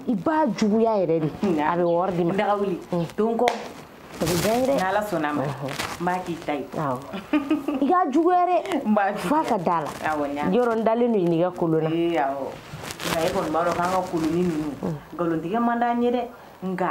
i b'a juguya yɛrɛ de a bɛ wɔri d'i ma daga wuli don kɔ o bɛ diya i ye dɛ n'ala sɔnna ma n b'a k'i ta ye awɔ i k'a juguya dɛ n b'a juguya f'a ka da la awɔ n y'a yɔrɔ n dalen don i n'i ka kolon na ee awɔ nka e kɔni b'a dɔn k'an ka koloni ninnu nkalontigɛ man d'an ye dɛ nka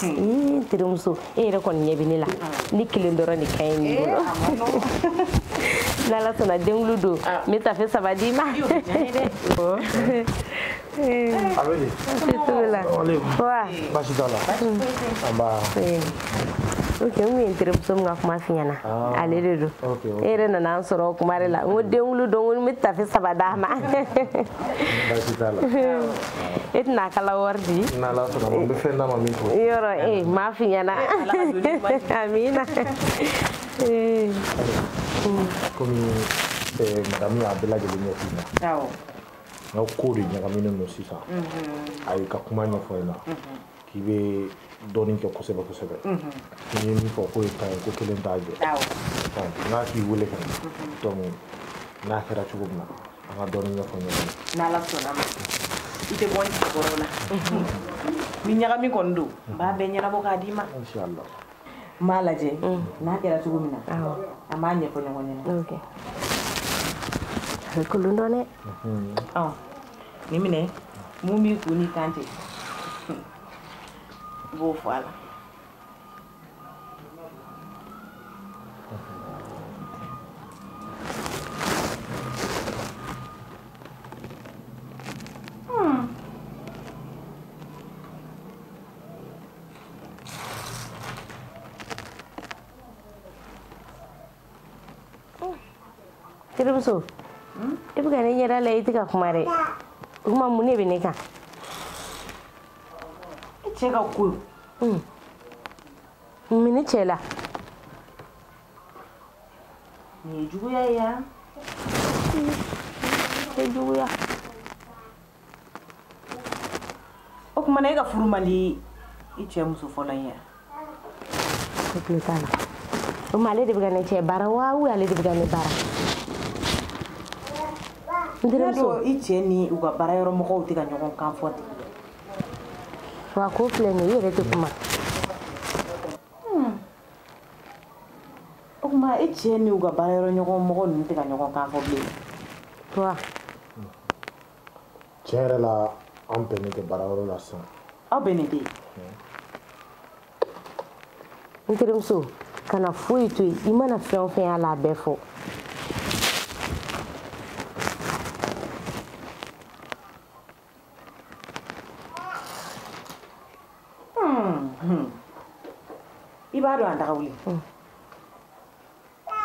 Hmm. terimuso e yɛrɛ kɔni ɲɛ bɛ ne la ne kelen dɔrɔn de ka ɲi nin bolo n'ala sɔnna den wolo don n bɛ tafe saba d'i ma basi t'a la ok n kun ye n terimuso min ka kuma f'i ɲɛna ale de don e yɛrɛ nana an sɔrɔ o kuma de la n ko den wolo don ko n bɛ tafe saba d'a ma basi t'a la e tɛna kala wari di n'ala sɔnna ma n bɛ fɛn d'a ma min fɔ yɔrɔ e m'a f'i ɲɛna amina komi madamu y'a bɛɛ lajɛlen ɲɛf'i na n ka ko de ɲagaminen don sisan a y'i ka kuma ɲɛfɔ i la k'i bɛ dɔnni kɛ kosɛbɛ kosɛbɛ n'i ye min fɔ k'o ye can ye ko kelen t'a jɛ n k'a k'i wele ka na donc n'a kɛra cogo min na an ka dɔɔni ɲɛfɔ ɲɔgɔn ye n'ala sɔnna ma i tɛ bɔ ni sabɔrɔ la ni ɲagami kɔni don n b'a bɛɛ ɲɛnabɔ k'a d'i ma inshallah n b'a lajɛ n'a kɛra cogo min na an b'a ɲɛfɔ ɲɔgɔn ɲɛna a bɛ kolon dɔn dɛ Nin minɛ mun b'i kun n'i kan cɛ i b'o fɔ a la terimuso i bɛ ka ne ɲɛda lajɛ i tɛ ka kuma dɛ o tuma mun de bɛ ne kan i cɛ ka ko mun ne cɛ la nin ye juguya ye yan tɛ juguya o tuma na e ka furu man di i cɛ muso fɔlɔ in ye o tile t'a la o tuma ale de bɛ ka ne cɛ baara wa ou ale de bɛ ka ne baara n terimuso i cɛ ni u ka baara yɔrɔ mɔgɔw tɛ ka ɲɔgɔn kan fɔ ten wa k'o filɛ nin ye i yɛrɛ tɛ kuma o tuma e cɛ ni u ka baara yɔrɔ ɲɔgɔn mɔgɔ ninnu tɛ ka ɲɔgɔn kan fɔ bilen wa tiɲɛ yɛrɛ la an bɛnnen tɛ baarayɔrɔ la sisan aw bɛnnen tɛ n terimuso kana foyi to yen i mana fɛn o fɛn y'a la a bɛɛ fɔ i b'a dɔn a daga wuli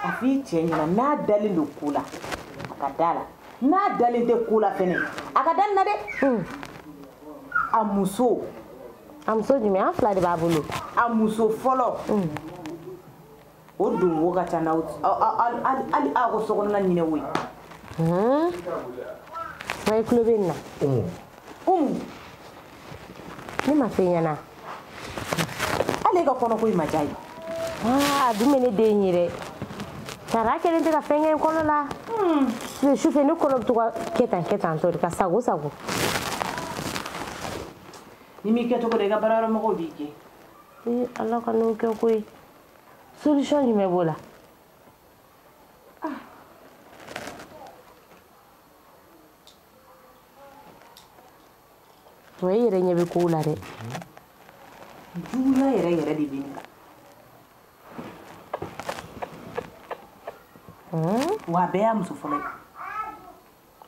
a f'i cɛ ɲɛna n'a dalen don ko la a ka da la n'a dalen tɛ ko la fɛnɛ a ka da nin na dɛ hmm. a muso a muso jumɛn an fila de b'a bolo a muso fɔlɔ hmm. o don wo ka ca n'aw hali aw ka sokɔnɔna ɲinɛ wo ye hmm. i tulo bɛ nin na umu ne m'a f'i ɲɛna hali e ka kɔnɔko in ma diy'a ye a dun bɛ ne den ye dɛ sara kelen tɛ ka fɛn kɛ n kɔnɔ la sufɛ ne kɔnɔ bɛ to ka kɛ tan kɛ tan tɔ de ka sago sago n'i m'i kɛcogo dɔn i ka baarayɔrɔ mɔgɔw b'i gɛn ee ala kan'o kɛ koyi solution jumɛn b'o la wa i yɛrɛ ɲɛ bɛ kow la dɛ juguya yɛrɛ yɛrɛ de bɛ nin kan wa a bɛɛ y'a muso fɔlɔ ye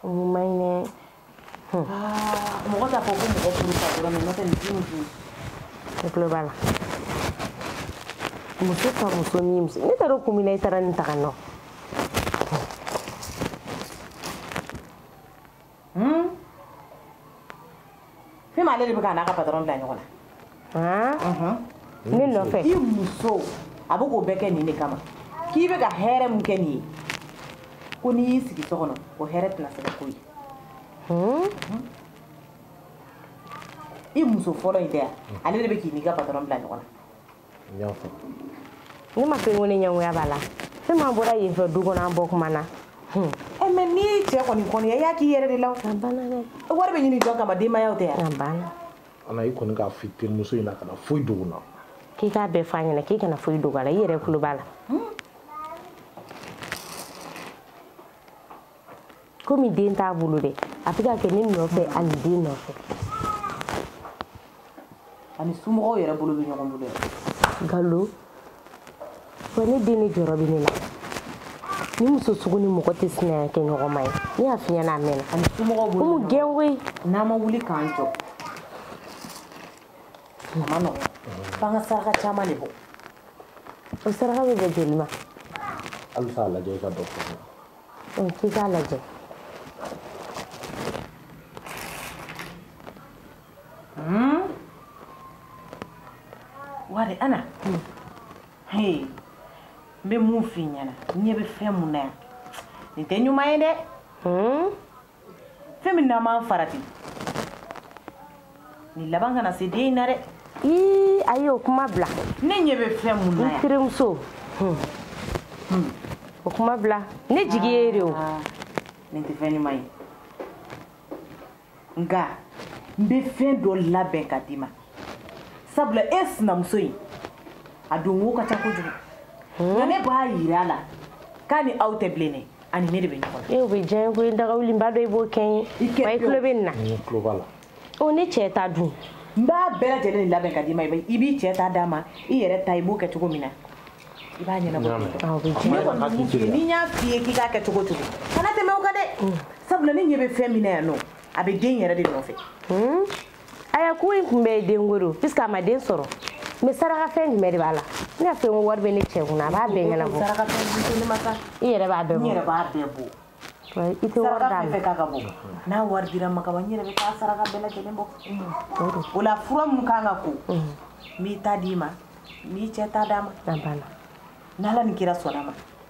o man ɲi dɛ mɔgɔ t'a fɔ ko mɔgɔ furu ka dɔrɔn mɛ n'o tɛ nin dimi dun ne tulo b'a la muso ka muso ni muso ne taara kun min na i taara nin ta ka nɔ ale de bɛ k'a n'a ka patɔrɔn bila ɲɔgɔn na ne nɔfɛ i muso a bɛ k'o bɛɛ kɛ nin de kama k'i bɛ ka hɛrɛ min kɛ nin ye ko n'i y'i sigi so kɔnɔ o hɛrɛ tɛna se ka k'o ye i muso fɔlɔ in tɛ yan ale de bɛ k'i n'i ka patɔrɔn bila ɲɔgɔn na n y'a fɔ ne ma fɛn ko ne ɲɛngoya b'a la fɛn ma bɔra yen fɛ du kɔnɔ an bɔ kuma na hmm. ɛ eh, mɛ n'i ye cɛ kɔni kɔniya i y'a k'i yɛrɛ de la a banna dɛ wari bɛ ɲini jɔn kama denbayaw tɛ yan a banna ana i kɔni k'a f'i terimuso ɲɛna kana foyi dogo na k'i k'a bɛɛ f'a ɲɛna k'i kana foyi dogo a la i yɛrɛ tulo b'a la hmm. komi den t'a bolo dɛ a bɛ k'a kɛ ne nɔfɛ ani den nɔfɛ a n'i somɔgɔw yɛrɛ bolo bɛ ɲɔgɔn bolo galo wa ne den ne jɔrɔ bɛ ne la nin muso sugu ni mɔgɔ tɛ sinaya kɛ ɲɔgɔn ma ye ne y'a f'i ɲɛna a mɛnna a n'i somɔgɔw bolo komi gɛn koyi n'an ma wuli k'an jɔ a man nɔgɔn f'an ka saraka caman de bɔ o saraka bɛ bɛn joli ma halisa a lajɛ i ka dɔ fɔ ɔ k'i k'a lajɛ hmm? wari ana hmm. hey n bɛ mun f'i ɲɛna n ɲɛ bɛ fɛn mun na yan nin tɛ ɲuman ye dɛ hmm? fɛn min n'an b'an farati nin laban kana se den in na dɛ ii ayi o kuma bila ne ɲɛ bɛ fɛn mun na yan n terimuso hmm. hmm. o kuma bila ne jigi ye de o ah, nin tɛ fɛn ɲuman ye nka n bɛ fɛn dɔ labɛn ka d'i ma sabula e sinamuso in a don wo ka ca kojugu nka ne b'a yira a la k'a ni aw tɛ bilen dɛ a ni ne de bɛ ɲɔgɔn na e o bɛ diya n ye ko dagawuliba dɔ i b'o kɛ n ye wa i tulo bɛ nin na n tulo b'a la o ne cɛ ta dun n b'a bɛɛ lajɛlen labɛn ka d'i ma i b'i cɛ ta d'a ma i yɛrɛ ta i b'o kɛ cogo min na i b'a ɲɛnabɔ ne kɔni bɛ mun f'i ye ni n y'a f'i ye k'i k'a kɛ cogo o cogo kana tɛmɛ o kan dɛ sabula ne ɲɛ bɛ fɛn min na yan nɔ a bɛ den yɛrɛ de nɔfɛ aya ko in tun bɛ den wolo puisque a ma den sɔrɔ mais sarakafɛn jumɛn de b'a la ne y'a fɛ ko wari bɛ ne cɛ kunna a b'a bɛɛ ɲɛnabɔ i yɛrɛ b'a bɛɛ bɔ i tɛ wari d'a ma k'a ka bɔ n'a wari dira n ma ka ban n yɛrɛ bɛ taa saraka bɛɛ lajɛlen bɔ o la fura min kan ka ko n b'i ta d'i ma n b'i cɛ ta d'a ma n'ala ni kira sɔnna ma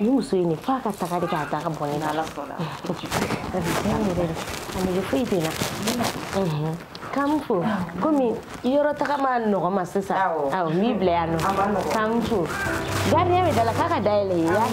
ni muso in de f'a ka taga de k'a da ka bɔ ne na n'ala sɔnna a bɛ diya n yɛrɛ de a nege foyi tɛ n na k'an fo komi yɔrɔ taga man nɔgɔ n ma sisan awɔ n b'i bila yan nɔ k'an fo gardien bɛ da la k'a ka da yɛlɛ i ye yan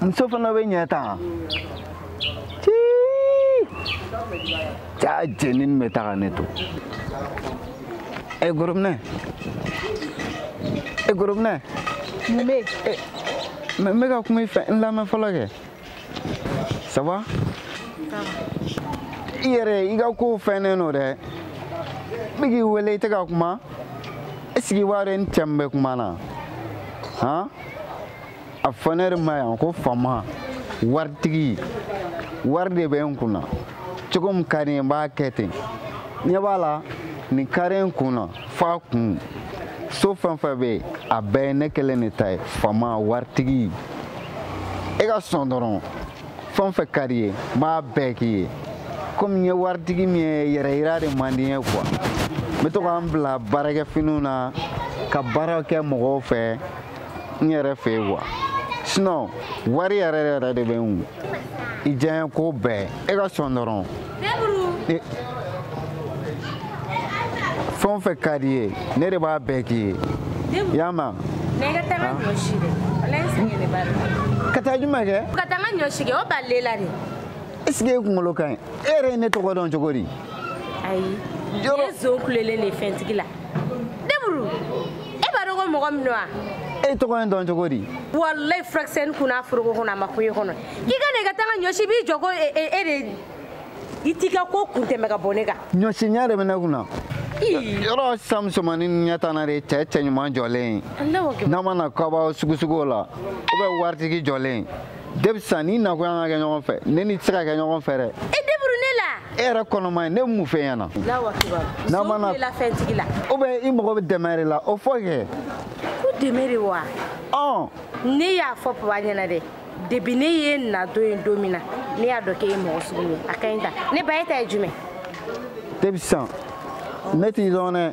muso fana bɛ ɲɛ tan caa jenin bɛ taga ne to e gorobinɛ e gorobinɛ mun bɛ yen n bɛ ka kuma i fɛ n lamɛn fɔlɔ kɛ ça va i yɛrɛ i ka kow fɛnnen don dɛ n bɛ k'i wele i tɛ ka kuma est ce que i b'a dɔn i ni cɛ min bɛ kuma na han a fɔ ne de ma yan ko fama waritigi wari de bɛ n kun na cogo min ka di n ye n b'a kɛ ten ɲɛ b'a la nin kari n kun na fa kun so fɛn fɛn bɛ yen a bɛɛ ye ne kelen de ta ye fama waritigi e ka sɔn dɔrɔn fɛn fɛn ka d'i ye n b'a bɛɛ k'i ye komi n ye waritigi min ye yɛrɛyira de man di n ye quoi n bɛ to ka n bila baarakɛfiniw na ka baara kɛ mɔgɔw fɛ n yɛrɛ fɛ yen wa sinɔn wari yɛrɛ yɛrɛ de bɛ n kun i diyaɲɛ ko bɛɛ e ka sɔn dɔrɔn e, fɛn o fɛn ka d'i ye ne de b'a bɛɛ k'i ye i y'a mɛn ka taa jumɛn kɛ ka taa n ka ɲɔ si kɛ o b'ale la de est ce que e kunkolo ka ɲi e yɛrɛ ye ne tɔgɔ dɔn cogo di ayi ne ye zon kulelen de ye fɛntigi la deburu e b'a dɔn ko mɔgɔ min don wa e tɔgɔ in dɔn cogo di walayi furakisɛni kunna foroko kɔnɔ a ma kun e kɔnɔ i ka na i ka taa n ka ɲɔ si b'i jɔ ko e, e, e de i t'i ka ko kun tɛmɛ ka bɔ ne kan ɲɔsinya de bɛ ne kun na yɔrɔ sisan musomanin ɲɛ tan na de cɛ cɛ ɲuman jɔlen n'a ma na kɔbaw sugusuguw la ou bien waritigi jɔlen depuis sisan n'i nakun y'an ka kɛ ɲɔgɔn fɛ ne n'i tɛ se ka kɛ ɲɔgɔn fɛ dɛ e deburu ne la e yɛrɛ kɔnɔma ye ne mun fɛ ɲɛna n'a ma na fɛntigi la ou bien i mago bɛ dɛmɛ de la o fɔ kɛ ko dɛmɛ de wa ɔ ne y'a fɔ papa ɲɛna dɛ depuis ne y'i na don ye don min na ne y'a dɔn k'e ye mɔgɔ sugu ye a ka ɲi ta ne ba e ta ye jumɛn depuis sisan ne t'i dɔn dɛ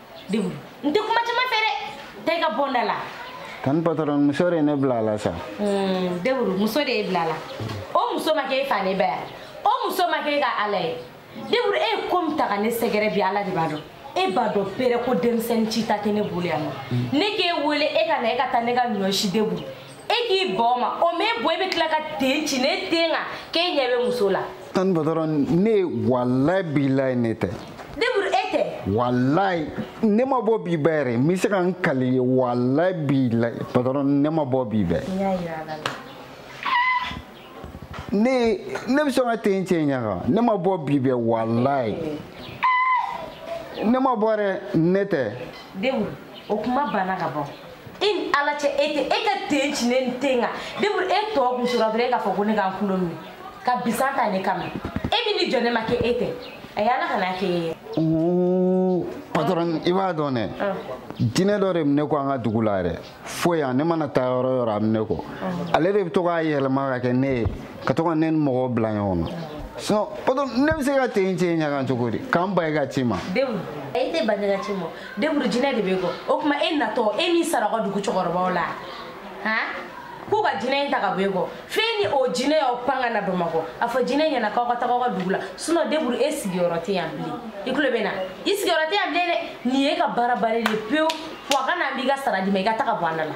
deburu n tɛ kuma caman fɛ dɛ taa i ka bɔ n da la tan patɔrɔn muso de ye ne bila a la sa deburu muso de y'e bila a la o muso ma kɛ e fa n'e ba ye o muso ma kɛ e ka ala ye deburu e ye ko min ta ka ne sɛgɛrɛ bi ala de b'a dɔn e b'a dɔn pere ko denmisɛnnin cita tɛ ne bolo yan nɔ ne k'e wele e ka na e ka taa ne ka ɲɔ si deburu e k'i bɔ ma o m'e bɔ e bɛ tila ka ten ci ne den kan k'e ɲɛ bɛ muso la tan patɔrɔn ne walayi bilayi ne tɛ deburu e tɛ walayi ne ma bɔ bi bɛɛ yɛrɛ n bɛ se ka n kali i ye walayi bilayi patɔrɔn ne ma bɔ bi bɛɛ ne ne bɛ sɔn ka ten cɛ ɲɛ kan ne ma bɔ bi bɛɛ walayi ne ma bɔ dɛ ne tɛ deburu o kuma banna ka ban i ni ala cɛ e tɛ e ka ten ci ne den kan deburu e t'o kun sɔrɔ dɔrɔn e k'a fɔ ko ne k'an kulo minɛ ka bisan ta ne kama e min ni jɔ ne ma kɛ e tɛ a ye ala kana kɛ e ye. patɔrɔn i b'a dɔn dɛ jinɛ dɔ de bɛ ne kɔ an ka dugu la yɛrɛ fo yan ne mana taa yɔrɔ o yɔrɔ a bɛ ne kɔ ale de bɛ to k'a yɛlɛma ka kɛ ne ye ka to ka ne ni mɔgɔw bila ɲɔgɔn na sinon patɔrɔn ne bɛ se ka ten cɛ ɲɛ kan cogo di ka n ban i ka ci ma. deburu i tɛ ban ne ka ci ma deburu jinɛ de b'e kɔ o tuma e natɔ e m'i sara aw ka dugu cɛkɔrɔbaw la han k'u ka jinɛ in ta ka bɔ e kɔ f'e ni o jinɛ y'aw pan ka na bamakɔ a fɔ jinɛ ɲɛna k'aw ka taga aw ka dugu la sinɔn deburu e sigiyɔrɔ tɛ yan bilen i tulo bɛ n na i sigiyɔrɔ tɛ yan bilen dɛ nin ye e ka baara bannen de pewu wa ka na n b'i ka sara d'i ma i ka taga bɔ an da la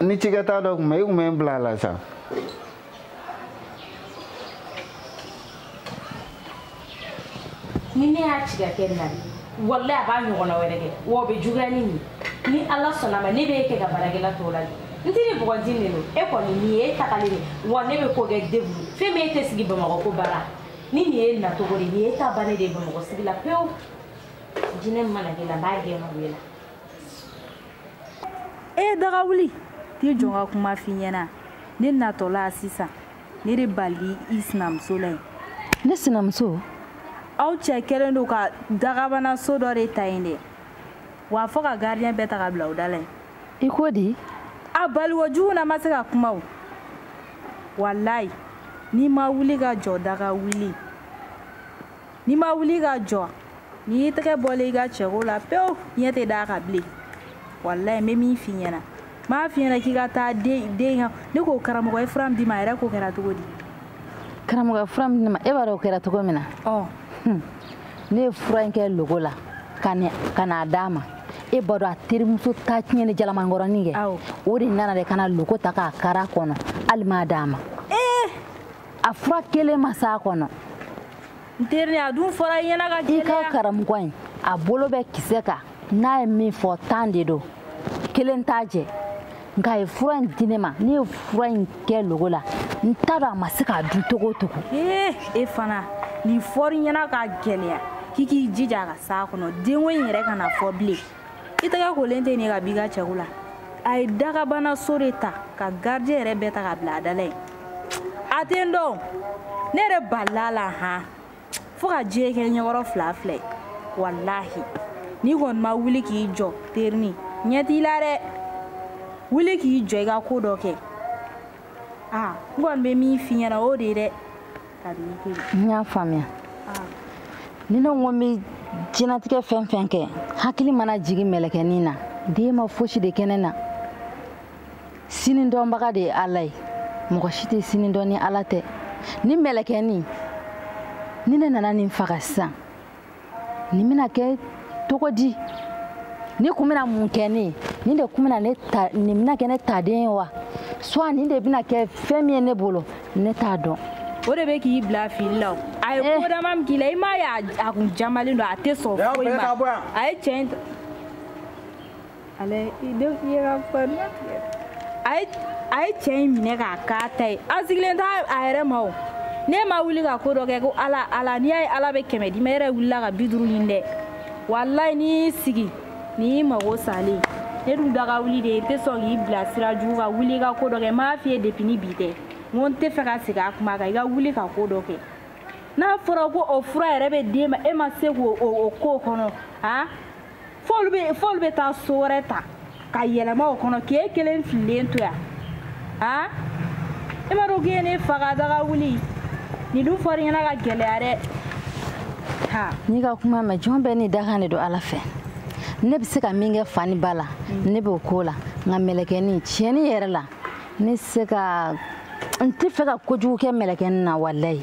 ni cikɛta dɔ tun bɛ i tun bɛ n bila a la sa ni ne y'a ci ka kɛ na walayi a b'a ɲɔgɔnna wɛrɛ kɛ wa o bɛ juguya ni nin ni ala sɔnna ma ne bɛ e kɛ ka baarakɛla tɔw la n tɛ ni bɔgɔti nin don e kɔni nin ye e tagalen de wa ne bɛ ko kɛ debu fɛn min e tɛ sigi bamakɔ ko baara ni nin ye nacogo de nin ye e ta bannen de ye bamakɔ sigi la pewu jinɛ mana k'e la n b'a gɛn ka bɔ e la e ye daga wuli t'i jɔ ka kuma f'i ɲɛna ne natɔla sisan ne de balila i sinamuso la yen ne sinamuso aw cɛ kɛlen don ka dagabana so dɔ de ta yen dɛ wa fɔ ka gardiyɛn bɛɛ ta ka bila u da la yen i ko di a baliko jugu ne ma se ka kuma o walayi n'i ma wuli ka jɔ daga wuli n'i ma wuli ka jɔ nin y'i tɛgɛ bɔlen y'i ka cɛko la pewu ɲɛ tɛ d'a kan bilen walayi n bɛ min f'i ɲɛna n m'a f'i ɲɛna k'i ka taa den den ka ne ko karamɔgɔ ye fura min d'i ma a yɛrɛ ko kɛra cogo di karamɔgɔ ye fura min di n ma e b'a dɔn o kɛra cogo min na ne ye fura in kɛ logo la ka n'a d'a ma e b'a dɔn a terimuso ta tiɲɛni jalamankɔrɔnin kɛ o de nana de ka na logo ta k'a kar'a kɔnɔ hali m'a d'a ma a fura kelen ma s'a kɔnɔ n teri a dun fɔra i ɲɛna ka gɛlɛya i ka karamɔgɔ in a bolo bɛ kisɛ kan n'a ye min fɔ tan de don kelen t'a jɛ nka a ye fura in di ne ma ne ye fura in kɛ logo la n t'a dɔn a ma se k'a dun cogo o cogo ee e fana nin fɔr'i ɲɛna ka gɛlɛya k'i k'i jija a ka s'a kɔnɔ denko in yɛrɛ kana fɔ bilen i tɛgɛ kolen tɛ nin ka b'i ka cɛko la a ye dagabana so de ta ka gardiyɛn yɛrɛ bɛɛ ta ka bila a da la yen a tɛ n dɔn ne yɛrɛ balila la han fo ka diɲɛ kɛ ɲɛkɔrɔ fila fila ye walahi n'i kɔni ma wuli k'i jɔ terinin ɲɛ t'i la dɛ wuli k'i jɔ i ka ko dɔ kɛ aa n kɔni bɛ min f'i ɲɛna o de ye dɛ n y'a faamuya ni ne ko n bɛ jɛnatigɛ fɛn fɛn kɛ hakili mana jigin mɛlɛkɛnin na den ma fosi de kɛ ne na sini dɔnbaga de ye ala ye mɔgɔ si tɛ sini dɔn ni ala tɛ ni mɛlɛkɛnin ni ne nana nin faga sisan nin bɛna kɛ cogo di nin kun bɛna mun kɛ ne ye nin de kun bɛna ne ta nin bɛna kɛ ne ta den ye wa soit nin de bɛna kɛ fɛn min ye ne bolo ne t'a dɔn o de bɛ k'i bila fili la o a ye ko dama min k'i la i m'a ye a kun jamalen don a tɛ sɔn foyi ma a ye cɛ in ale i denw ye ka fari a ye cɛ in minɛ k'a k'a ta ye an sigilen t'a a yɛrɛ ma o n'e ma wuli ka ko dɔ kɛ ko ala ala n'i y'a ye ala bɛ kɛmɛ d'i ma yɛrɛ wulila ka bi duuru ɲini dɛ walayi n'i y'i sigi n'i y'i mago salen ne dun daga wuli de ye n tɛ sɔn k'i bila sira jugu kan wuli i ka ko dɔ kɛ n m'a f'i ye depi ni bi tɛ n ko n tɛ fɛ ka segin a kuma kan i ka wuli ka ko dɔ kɛ n'a fɔra ko o fura yɛrɛ bɛ d'e ma e ma se k'o o ko kɔnɔ han f'olu bɛ f'olu bɛ taa so wɛrɛ ta ka yɛlɛma o kɔnɔ k'e kelen fililen to yan a e m'a dɔn k'e ye ne faga daga wuli nin dun fɔra i ɲɛna ka gɛlɛya dɛ ha n'i ka kuma mɛn jɔn bɛɛ ni dakan de don ala fɛ ne bɛ se ka min kɛ fa ni ba la mm. ne b'o k'o la nka mɛlɛkɛni tiɲɛni yɛrɛ la ne se ka n tɛ fɛ ka kojugu kɛ mɛlɛkɛni na walayi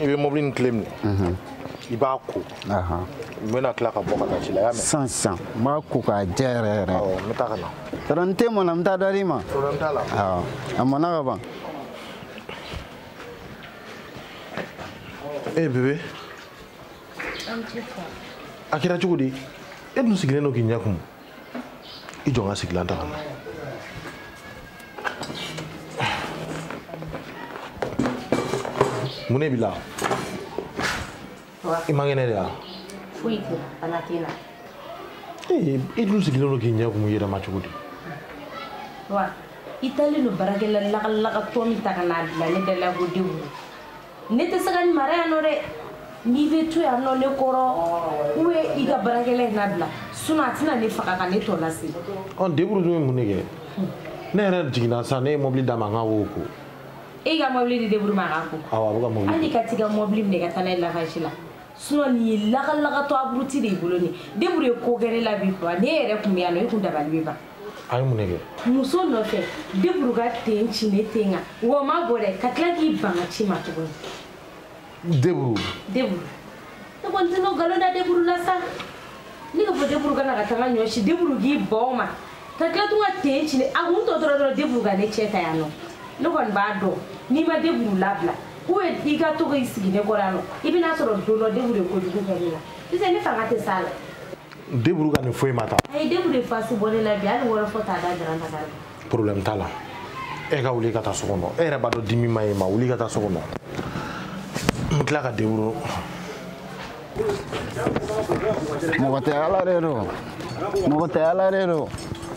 i bɛ mɔbili nin kile minɛ mhm. i b'a ko n bɛna tila ka bɔ ka taa ci la y'a mɛn sisan sisan n b'a ko k'a jɛ yɛrɛ yɛrɛ n bɛ taa ka na patɔrɔn ni te mɔna n bɛ taa dɔ d'i ma problème t'a la a mɔna ka ban e bebe a kɛra cogo di e dun sigilen don k'i ɲɛ kumu i jɔ n ka sigilan ta ka na mun ne b'i la i man kɛnɛ de wa foyi tɛ bana tɛ n na ee i dun sigilen don k'i ɲɛ kumu i yɛrɛ ma cogo di wa i taalen don baarakɛla lagalagatɔ min ta ka n'a bila ne da la ko denw ne tɛ se ka nin mara yan nɔ dɛ n'i bɛ to yan nɔ ne kɔrɔ ou bien i ka baarakɛla in nabila sinon a tɛna ne faga ka ne tɔ lase. ɔ deburu dun ye mun de kɛ ne yɛrɛ jiginna sisan ne ye mɔbili d'a ma a ka o ko. e ka mɔbili di deburu ma a k'a ko. awɔ a bɛ ka mɔbili ko. wuli ka t'i ka mɔbili minɛ ka taa n'a ye lavaji la sinon nin ye lagalagatɔ aburuti de y'i bolo nin ye deburu ye ko kɛ ne la bi quoi ne yɛrɛ tun bɛ yan nɔ e kun dabali bɛ ban. a ye mun de kɛ muso nɔfɛ deburu ka ten ci ne ten kan o ma bɔ dɛ ka tila k'i ban ka ci ma tuguni deburu deburu ne kɔni tɛna nkalon da deburu la sa ne ka fɔ deburu ka na ka taga ɲɔ si deburu k'i bɔ n ma ka tila tun ka ten ci a kun tɔ dɔrɔn dɔrɔn deburu ka ne cɛ ta yan nɔ ne kɔni b'a dɔn n'i ma deburu labila ou bien i ka to k'i sigi ne kɔrɔ yan nɔ i bɛna sɔrɔ don dɔ deburu ye kojugu kɛ ne la sisan ne fanga tɛ s'a la deburu ka nin foyi ma ta a ye deburu de fasi bɔ ne la bi hali wɔɔrɔ fɔ t'a da dara ka taa problème t'a la e ka wuli ka taa so kɔnɔ e yɛrɛ b'a dɔn dimi man ɲi i ma wuli ka taa so kɔnɔ n tila ka deburu mɔgɔ tɛ ala de don mɔgɔ tɛ ala de don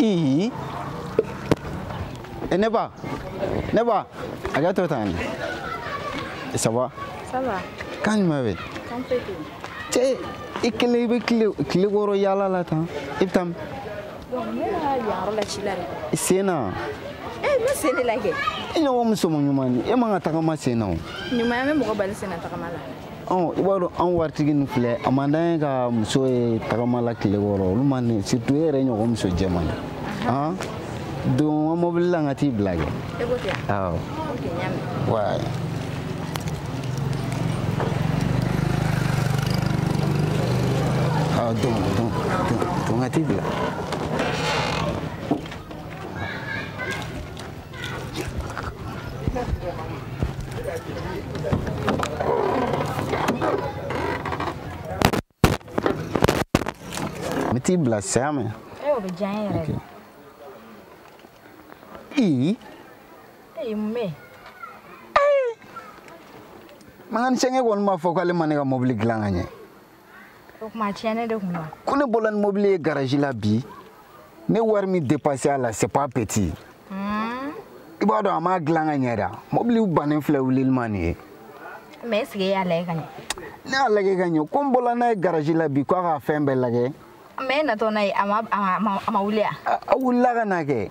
ii ne ba ne ba a ka to tan ça va ça va kan ma be kan pe te i kelen bɛ kile kɔrɔ yaala la tan i bɛ taa min i sen na i ɲɔgɔn muso ɲumannin e man kan ka tagama sen na o ɲumanya bɛ mɔgɔ bali sen na tagama la i b'a dɔn an waritigi nin filɛ a man d'an ye ka muso ye tagama la tile kɔrɔ olu man di surtout e yɛrɛ ɲɔgɔn muso jɛman ye han don ka mɔbili la n ka t'i bila kɛ awɔ wa don don don don ka t'i bila N t'i bila sa mais mécanicien kɛ kɔni m'a fɔ k'ale ma ne ka mobili dilan ka ɲɛ o kuma tiɲɛnen de kun don ko ne bɔla ni mobili ye garaji la bi ne wari min depanse a la c'est pas petit hmm. i b'a dɔn a m'a dilan ka ɲɛ da mɔbili bannen filɛ wulili ma nin ye mais est-ce que e y'a lajɛ ka ɲɛ ne y'a lajɛ ka ɲɛ ko n bɔla n'a ye garaji la bi ko a ka fɛn bɛɛ lajɛ mais e natɔ n'a ye a ma wuli a a wulila ka na kɛ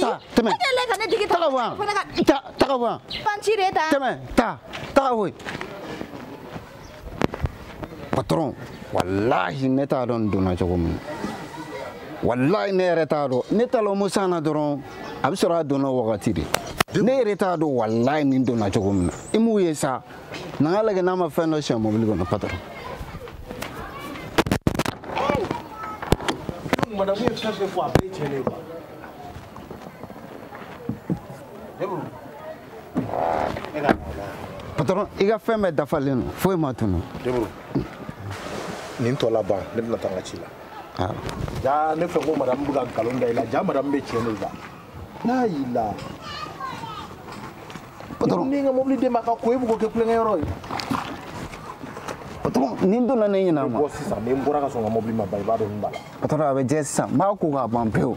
taa tɛmɛ e kɛlen ka ne digi taga bɔ yan taa taga bɔ yan panci de ta tɛmɛ taa taga bɔ yen patɔrɔn walahi ne t'a dɔn nin donna cogo min na walayi ne yɛrɛ t'a dɔn ne taalen musa na dɔrɔn a bɛ sɔrɔ a donna wagati de ne yɛrɛ t'a dɔn walayi nin donna cogo min na i m'u ye sa na n k'a lajɛ n'a ma fɛn dɔ sonya mɔbili kɔnɔ patɔrɔn madamu ye fɛn fɛn fɔ a bɛɛ tiɲɛ de ye patɔrɔn i ka fɛn bɛɛ dafalen don foyi ma tunu nin tɔ laban ne bɛna taa n ka ci la jaa ne fɛ ko madamu bɛ ka nkalon da i la jaa madamu bɛ tiɲɛ de la n'a y'i la patron n ye n ka mobili d'e ma k'a ko e bɛ k'o kɛ kulonkɛ yɔrɔ ye patron nin donna ne ɲinɛ ma bɔ sisan ni n bɔra k'a sɔrɔ n ka mobili ma ban i b'a dɔn min b'a la patron a bɛ jɛ sisan n b'a ko k'a ban pewu